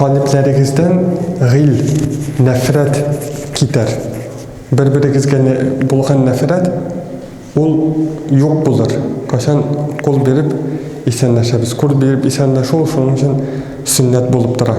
Калебләрегездән гыйл, нәфрәт китәр. Бер-берегезгә булган нәфрәт, ул юк булыр. Кайчан кул биреп исәнләшәбез. Кул биреп исәнләшү ул шуның өчен сөннәт булып тора.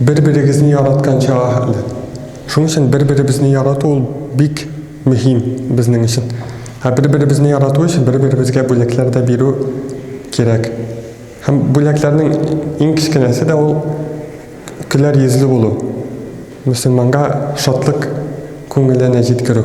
Бер-берегезне яраткан чага хәтле. Шуның өчен бер-беребезне ярату ул бик мөһим безнең өчен. Ә бер-беребезне ярату өчен бер-беребезгә бүләкләр дә бирү кирәк. Һәм бүләкләрнең иң кечкенәсе дә ул көләр йөзле булу. Мөселманга шатлык күңеленә җиткерү.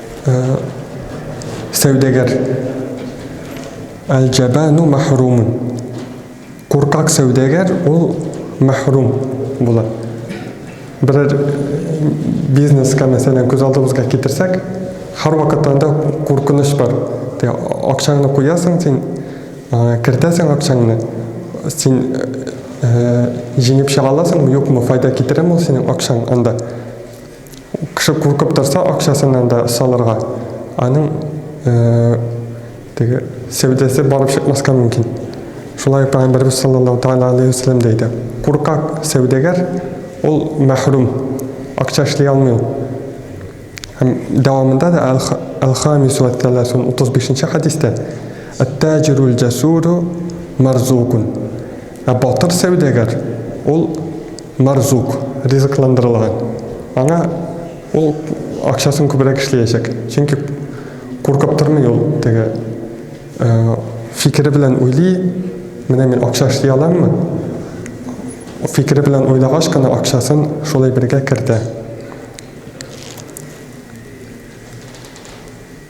сәүдәгәр. Әл-җәбәну мәхрумун. Куркак сәүдәгәр ул мәхрум була. Берәр бизнеска, мәсәлән, күз алдыбызга китерсәк, һәрвакыт анда куркыныч бар. Акчаңны куясың син, кертәсең акчаңны, син җиңеп чыга аласыңмы, юкмы, файда китерәме ул синең акчаң анда? Кеше куркып торса, акчасыннан да салырга. Аның теге сәүдәсе барып чыкмаска мөмкин. Шулай Пәйгамбәрбез саллаллаһу тәгалә алейһи ва сәлләм дә әйтә. Куркак сәүдәгәр ул мәхрүм, акча эшли алмый. Һәм дәвамында да Әл-Хамис ва Тәләсун 35-нче хәдистә Әт-таҗирул җасуру марзукун. Ә батыр сәүдәгәр ул Марзук ризыкландырылган. Аңа ул акчасын күбрәк эшләячәк. Чөнки куркып тормый ул теге э, фикере белән уйлый, менә мин акча эшли аламмы? Фикере белән уйлагач кына акчасын шул әйбергә кертә.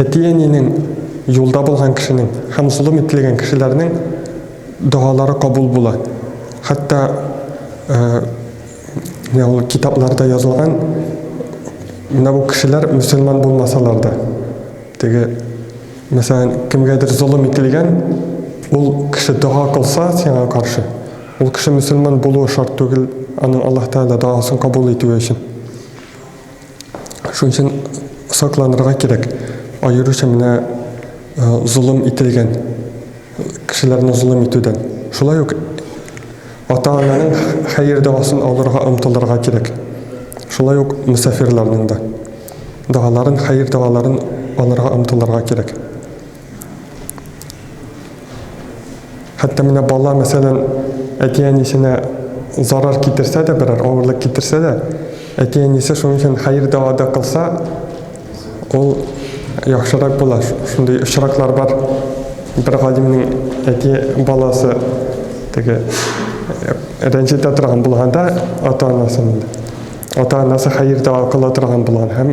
Әти-әнинең, юлда булган кешенең һәм золым ителгән кешеләрнең догалары кабул була. Хәтта менә ул китапларда язылган менә бу кешеләр мөселман булмасалар да, теге мәсәлән, кемгәдер золым ителгән, ул кеше дога кылса сиңа каршы, ул кеше мөселман булуы шарт түгел, аның Аллаһ Тәгалә догасын кабул итүе өчен. Шуның өчен сакланырга кирәк. Аеруча менә э, золым ителгән кешеләрне золым итүдән. Шулай ук ата-ананың хәер дәвасын алырга омтылырга кирәк. Шулай ук мөсафирларның да догаларын, хәер дәваларын алырга омтылырга кирәк. Хәтта менә бала, мәсәлән, әти-әнисенә зарар китерсә дә, берәр авырлык китерсә дә, әти-әнисе шуның өчен хәер дәва да кылса, ул яхшырак була. Шундый очраклар бар. Бер галимнең әти баласы теге рәнҗетә торган булганда ата-анасын ата-анасы хәер дәва кыла торган булган һәм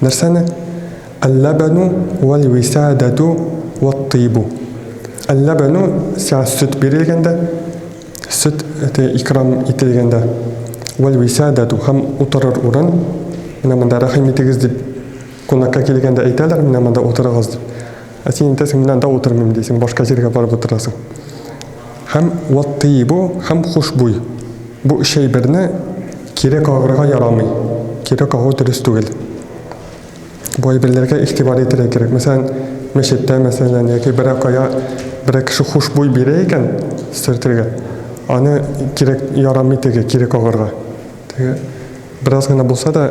Нәрсәне? Әлләбәну вәлвисәдәтү вәттыйбу. Әлләбәну, сиңа сөт бирелгәндә, сөт икрам ителгәндә, вәлвисәдәтү һәм утырыр урын, менә монда рәхим итегез дип, кунакка килгәндә әйтәләр, менә монда утырыгыз дип. Ә син әйтәсең, мин анда утырмыйм дисең, башка җиргә барып утырасың. Һәм вот ты его, һәм хушбуй. Бу өч әйберне кире кагырга ярамый. Кире кагу дөрес түгел. Бу әйберләргә игътибар итәргә кирәк. Мәсәлән, мәчеттә, мәсәлән, яки берәр кая берәр кеше хушбуй бирә икән сөртергә, аны кирәк ярамый теге кире кагырга. Теге бераз гына булса да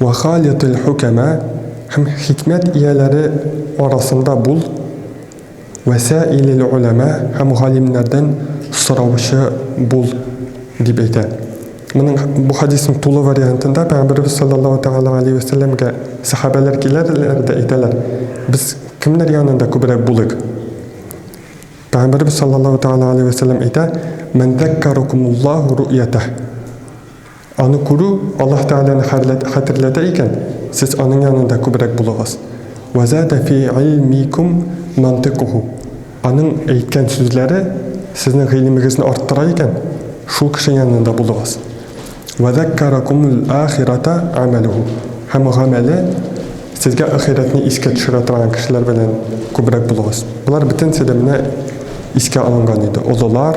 Вә халитил хукәмә һәм хикмәт ияләре арасында бул, вә сәилил оләмә һәм галимнәрдән сораучы бул, дип әйтә. Моның, бу хәдиснең тулы вариантында Пәйгамбәребез салләллаһу тәгалә галәйһи вә сәлләмгә сәхабәләр киләләр дә әйтәләр, Без кемнәр янында күбрәк булыйк? Пәйгамбәребез салләллаһу тәгалә галәйһи вә сәлләм әйтә, Мән заккәрәкумуллаһу ру'ятәһ. Аны күрү Аллаһ Тәгаләне хәтерләтә икән, сез аның янында күбрәк булыгыз. Вә зада фи илмикум мантикуху. Аның әйткән сүзләре сезнең гыйлемегезне арттыра икән, шул кеше янында булыгыз. Вә заккаракумул ахирата амәлуху. Һәм гамәле сезгә ахирәтне искә төшерә торган кешеләр белән күбрәк булыгыз. Болар бөтенесе дә менә искә алынган иде. Олылар,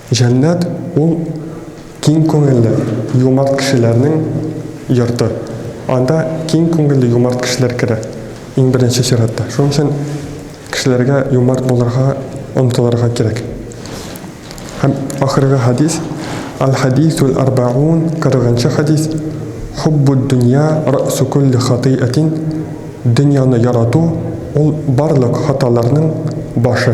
Җәннәт ул киң күңелле, юмарт кешеләрнең йорты. Анда киң күңелле, юмарт кешеләр керә, иң беренче чиратта. Шуның өчен кешеләргә юмарт булырга омтылырга кирәк. Һәм ахыргы хәдис, Аль-хәдисул арбәгун, кырыгынчы хәдис, Хуббуд дөнья рәсу кулли хатыйәтин, дөньяны ярату, ул барлык хаталарның башы.